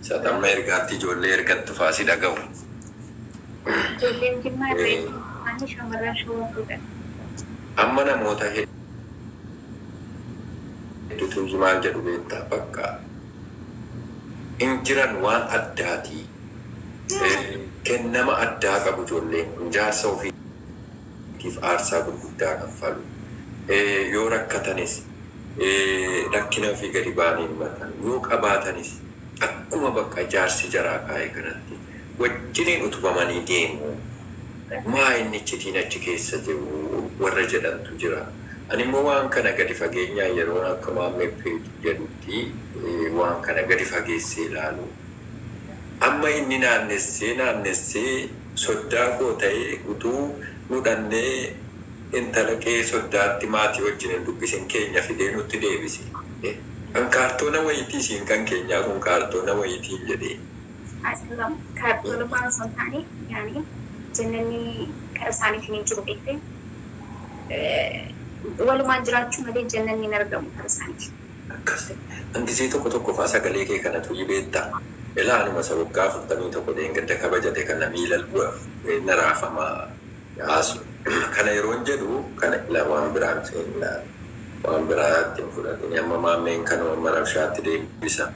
Sat amma ergaatti ijoollee ergattu faa si dhagahu. Ijoolleen Jimmaa irreecha hordofanii shamarran Shawaa fuudhan. Amma namoota heddutu iyyi maal jedhu beektaa? Bakka hin jiran waan addaati. Kennama addaa qabu ijoolleen kun. Jaarsa ofii. tiif aarsaa gurguddaa kaffalu. Yoo rakkatanis, rakkina ofii gadi ba'anii hin himatan. Yoo qabaatanis, akkuma bakka jaarsi jaraa kaa'e kanatti wajjiniin utubamanii deemu. Maa inni iccitiin achi keessa jiru? warra jedhantu jira. Ani immoo waan kana gadi fageenyaan yeroon akka Maammee Page jedhutti waan kana gadi fageessee ilaalu, amma inni naannessee naannessee, Soddaa koo ta'e utuu nu dhannee intala kee soddaatti maatii wajjin hin dubbisin keenya fidee nutti deebisi. E. An kaartoona wayiitii isiin kan keenyaa kun kaartoona wayiitiin jedhee. Aslam. Kaartoona faan osoo hin taane yaani jannanni kara isaaniitiin hin jiru beektee? Walumaan jiraachuu malee jannanni hin argamu kara isaaniitiin. Akkasi an gizee tokko tokko faa sagalee kee kana tuyii beetta elaa anuma isa waggaa afurtamii tokko dheengadda kabajate kana miilal bu'e fudhee na raafama yaasu kana yeroon jedhu kana ila waan biraa hin seennaa waan biraa itti hin fudhatini amma maammeen kanoo amma rabshaatti deebisa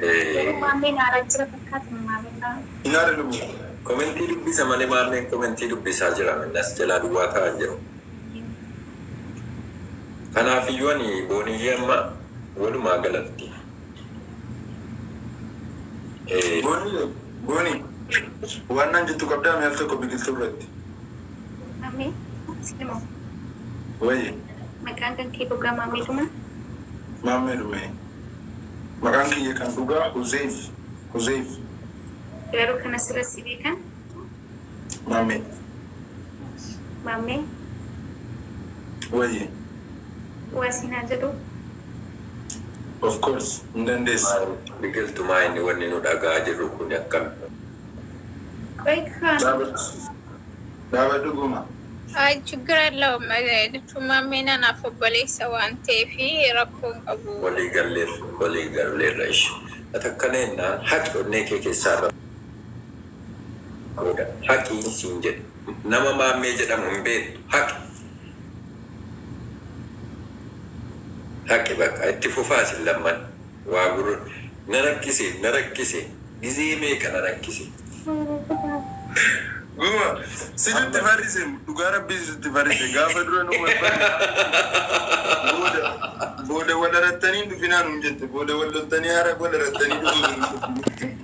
Garuu ee. maammee na ara jira fakkaata moo maalidhaa. Hin arinu komentii dubbisa male maammeen komentii dubbisaa jira minna si jalaa duwwaa ta'aa hin jiru. Ayyoo Anaafiyyuu ani booniyyee amma walumaa galatti. Booniyye booni waan naan jettu qabdaa mee al tokko biqiltuu irratti. Maamee siin moo. Wayye. Maqaan kan kee dhugaa maamee dhuma? Maammee dhume. Maqaan kiyya kan dhugaa Huzeyf Huzeyf. Garuu kan asirra si beekan Maammee. Maammee. Wayye. Waa siin haa jedhuu. Of course hin dandeessa. Maal biqiltu maa inni wanni nu dhagahaa jirru kuni akkami. Qoyi kaan. Dhaabadhu dhaabadhu guma. Ayi chiggir allawm jechuun maammeen anaaf obboleessa waan ta'eef rakkoo hin qabu. Walii galleerra walii galleerra ishi. Ati akkana jennaan haqi onnee kee keessaa irra. booda haqi siin jedhe nama maammee jedhamu hin beektu haqi haqi baqa itti fufaa isin lamman waa gurra na rakkise na rakkise gizee meeqa na rakkise. Gowwa situ itti farrise dhugaa rabbii situ itti farrise gaafa dura nu wal barre booda booda wal arattanii hin dhufinaa nuun jette booda wal loltanii hara wal arattanii dhufuu hin.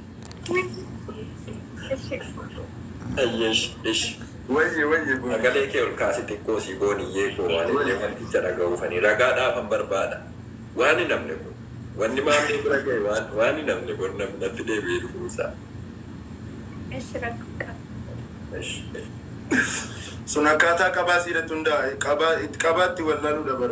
Ayyeesh ish Wayye wayye boni. Sagalee kee ol kaasi xiqqoo sii booniyyee koo ani illee wanticha dhaga'uufani ragaa dhaafan barbaada waan hin hafne kun wanni maammee bira gahe waan waan hin hafne bor na natti deebi'ee dhufuun isaa Eshi rakko hin qabu. Eshi. Sun akkaataa qabaa siirratti hundaa'a. Qabaa qabaa itti wallaaluudha bar.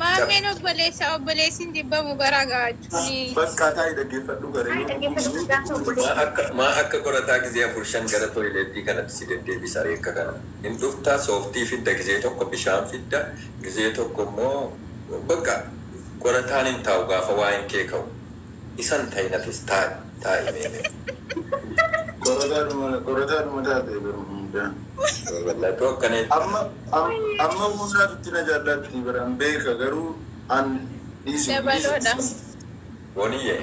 Maammeen obboleessa obboleessi hin jibbamu bara gaachuuni. Bakkaa taa'i dhaggeeffadhu garee yoo dhukkubsuu dhukkubuu akka maa akka qorataa gizee afur shan gara toileettii kanatti si deddeebisa ree akka kana hin dhufta sooftii fidda gizee tokko bishaan fidda gizee tokko immoo bakka qorataan hin taa'u gaafa waa'een kee ka'u. isan tayi nafis tayi tayi mee mee. Qorataa dhuma taate garuu mucaan. Mee wallah tu akkana hin Amma taane. amma munnaa tutti na jaallaatti bara hin beeka garuu an dhiisi hin Yabaloo dha. dhiisi. Booniye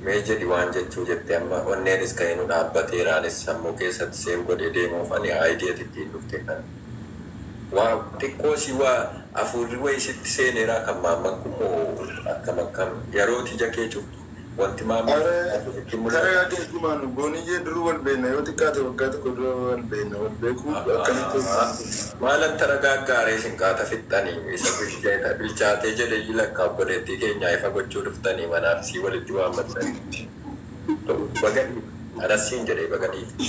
mee jedhi waan jechuu jette amma onneenis ka'ee nu dhaabbateera anis sammuu keessatti save godhee deemuufani idea ti ittiin dhufte kan. Waaw xiqqoo si wa afuurri wayi sitti seeneeraa kan maamman kun moo akkam akkam yarooti ija kee cuftu wanti maamman Are fakkaatu sitti hin mul'atu? Are ati ergumaanu booniyyee duruu wal beekna yoo xiqqaate waggaa tokko dura wal beekna wal beekuu akkamitti Ahaa ergumaanu kun. maal atti ragaaggaa ree isin qaata fixxani isa bilchaate jedheyyi lakka obboleettii keenyaa ifa gochuu dhuftani mana arsii walitti waammattanitti. Baga dhiifte anas siin jedhee baga dhiifte.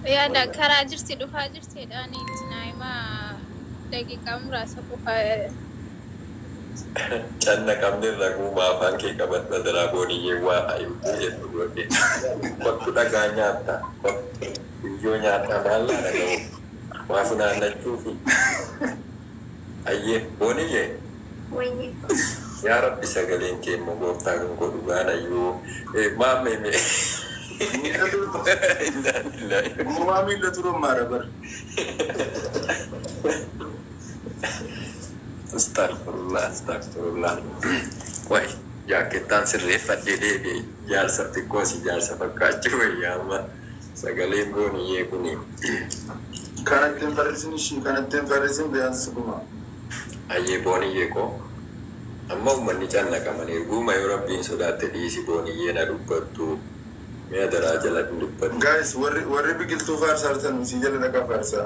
Yaada Wayyaa. karaa jirti dhufaa jirti jedhaani itti naa'ima daqiiqaa muraasa qofa Canna qabne raguuma afaan kee qabadhu adaraa booniyyee waa himtuu jettu godhe. Kottu dhagaa nyaatta kottu biyyoo nyaadhaa maal naa dhaga'uu waa funaannachuufi. Ayyee booniyyee. Wayyii. Yaa rabbi sagaleen kee immoo gooftaa kan koo dhugaa nayyuu maammee mee. Miila durba. Innaalillahi. Gowwaa miila turummaadha bar. Astagfurullah Astagfurullah Qoy jaakkettaan sirreeffadhee deebi'e jaarsa xiqqoo si jaarsa fakkaachuu wayya amma. Sagalee booniyee kuni. Kanatti hin farrisin ishii kanatti hin farrisin biyansi kuma. Ayyee booniyye koo Amma ummanni cannaqaman erguuma yoo rabbiin sodaatte dhiisi booniyyeen ha dubbattu mee adaraa jala hin dubbatin. Guys warri warri biqiltuu faarsaartanu sii jala dhaqa faarsaa.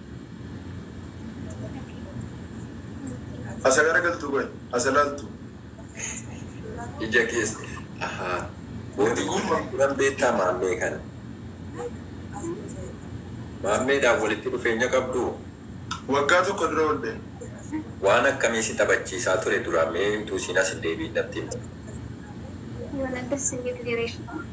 Asa gara galtuu qoy asa laltu. Ija kees ahaa bootii gurman kunan beektaa maammee kana maammeedhaan walitti dhufeenya qabduu? Waggaa tokko dura wal beekne. Waan akkamii si taphachiisaa ture duraan mee utuu isiin as hin deebi'in natti himi. Yoona dassi hin jedhu jireenya.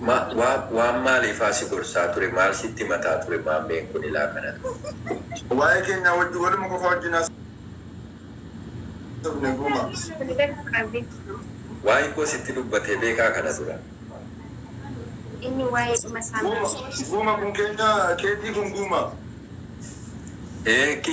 Ma, wa, waan maaliifaa si gorsaa ture maal sitti himataa ture maammeen kun ilaa kanatti. Waa'ee keenyaa wajjin waluma qofaa wajjin haasofne gumaa. Waa'ee koo sitti dubbatee beekaa kana dura? Inni waa'ee dhuma isaa Guuma, kaasee. guuma kun keenyaa keetii kun guumaa? Ee, ki.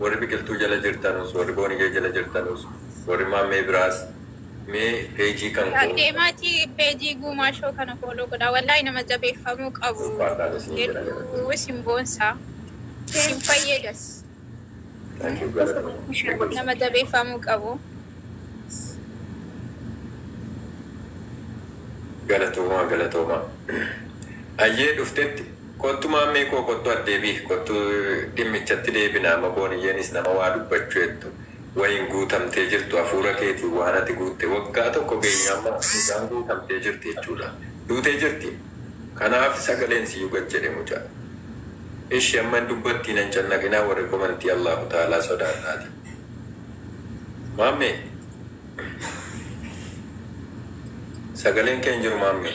Warri biqiltuu jala jirtanus warri booniyee jala jirtanus warri maammee biraas mee page kan koo. Deemaati page guumaa show kana follow godhaa wallahi nama jabeeffamuu qabu Ulfaadhaan isin jira hedduu galatoomaa. isin boonsa isin fayyadas Thank you galatoomaa. nama jabeeffamuu qabu. Galatoomaa galatoomaa. Ayyee dhuftetti. Kottu maammee koo kottu addeebi kottu dhimmichatti deebina amma booniyyeenis nama waa dubbachu ettu wayiin guutamtee jirtu afuura keetiin waan ati guutte waggaa tokko geenye amma mucaan guutamtee jirti jechuudha duutee jirti kanaaf sagaleen siyyu gad jedhe mucaa ishi amma hin dubbattii nan cannaqinaa warri komentii Allahu taalaa sodaadhaati maammee sagaleen kee hin jiru maammee.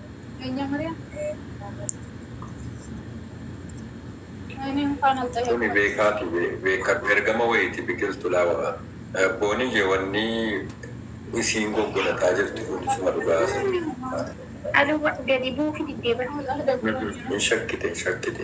Kuni beekaati beekkadhu ergama wayiiti biqiltu laa wara booni je wanni isiin goggolataa jirtu kun isuma dhugaa sati. Ado gadi buufi diddee bari. Hin shakkite hin shakkite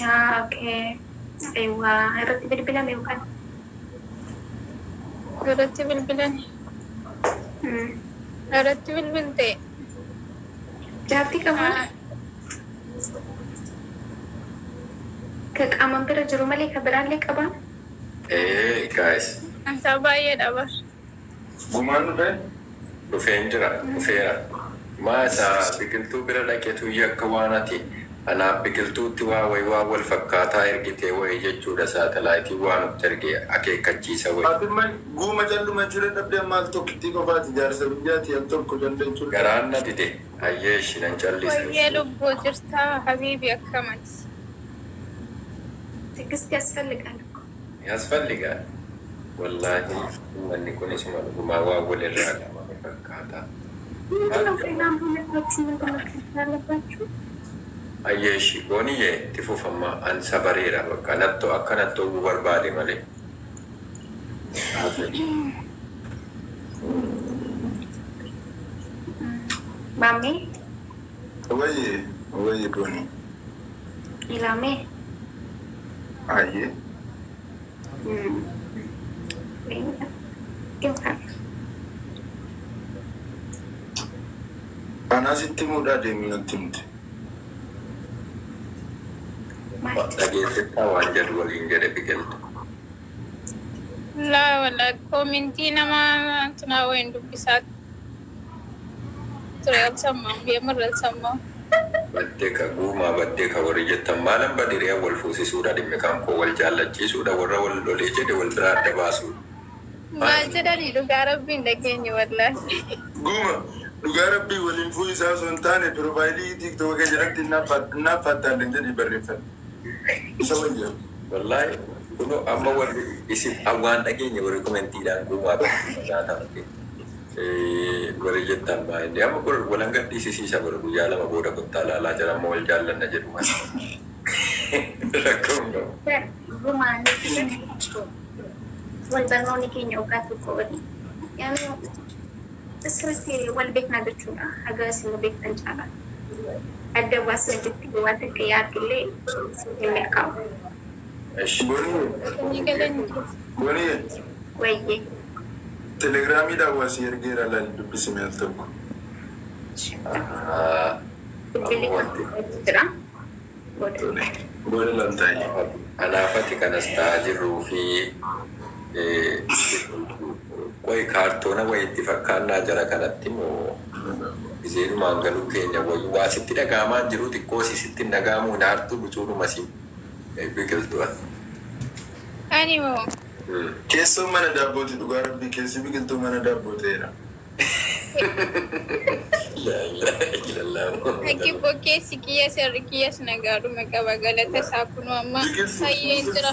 Yaa ok aywa irratti bilbilame yookaan. Irratti bilbilame. Hmm. Irratti bilbilte. Jaartii qabaa? Ah, Ka qaaman bira jiru malee ka biraallee qabaa? Ee guys. Antaa baay'eedha bar. Gumaan dhufe? Dhufeen jira, dhufeera. Maa isa Biqiltuu bira dhaqetu yakka waan ati anaaf Biqiltuutti waa wayi waan wal fakkaataa ergitee wayi jechuudha saatalaayitiin waa nutti erge akeekkachiisa wayi. Ati amma Guuma calluma jira dhabde amma al tokkittii qofa ati jaarsa biyyaati al tokko calla jechuun dhabde. Garaan na dide hayyee eshi nan callisa. Wayyee lubbuu jirtaa habiibi akkam ati. Tigisti yasfalligaal akkoo. Yasfalligaal wallahi ummanni kun isuma dhugumaa waan walirraa dhabame fakkaata Maal qabaa. Hayyee ishii booniye itti fufa amma an sabareera bakka natto akka natti ho'uu barbaade male haa ta'u. Maammee Wayye wayye boni. Ilaa mee. Ayyee. Anaa sitti himuudhaa deemii natti himte. Dhageessittaa waan jedhu waliin jedhe biqiltu. Laa wala komintii nama tunaa wayin dubbisaa. ture alsammaam yemarra alsammaam. Baddeka guumaa baddeka warri jettan maalan bade hiriyaan wal fuusisuudha dhimmi kan koo wal jaallachiisuudha warra wal lolee jedhe wal biraa adda baasuudha maal maal jedhani dhugaa rabbii hin dhageenye wallaahi. Guuma dhugaa rabbii waliin fuuyisaa osoo hin taane pirofaayilii tiiktoka kee jalatti innaaf faattaalleen jedhii barreeffadhu isa wayya. Wallahi kuno amma warri isin waan dhageenye warri komentiidhaan guumaa baddeka nyaata malee. Wari jettan maa inni amma bor wal hanga dhisisiisa bor guyyaa lama booda kottaa laalaa jara amma wal jaallanna jedhu malee rakkoo hin qabu. Bar durumaa nutti himi Icco wal barnooni keenya waggaa tokko oli garuu asirratti wal beeknaa jechuudha haga isin nu beektan caalaa adda baasna jechuun waan takka yaadullee siif hin milkaa'u. Eshi. Bonii. Bonii. Wayyee. Telegram dhaan wa sii ergeera lali dubbisi mee al tokko. Ishee maaloo bilbili kan biratti jira booda ilaali. Booda laltaa ishee. Anaa fati kan as ta'aa jirruu fi qoyi kaartoona wayiitti fakkaannaa jara kanatti moo gizeedhumaan galuu keenya wayyu waa sitti dhaga'amaa hin jiruu xiqqoo si sitti hin dhaga'amuu hin aartuu bucuudhuma si biqiltu ati. Ani moo. Keessoo mana daabbooti dhugaa rabbii keessi biqiltuu mana daabboo ta'eera. Laa ilaaha illallah Muhammad Haqi Rasul. bbo keessi kiyya serri kiyyas nagaadhuma qaba galata isaa kunoo amma Biqiltuu fayyeen jira.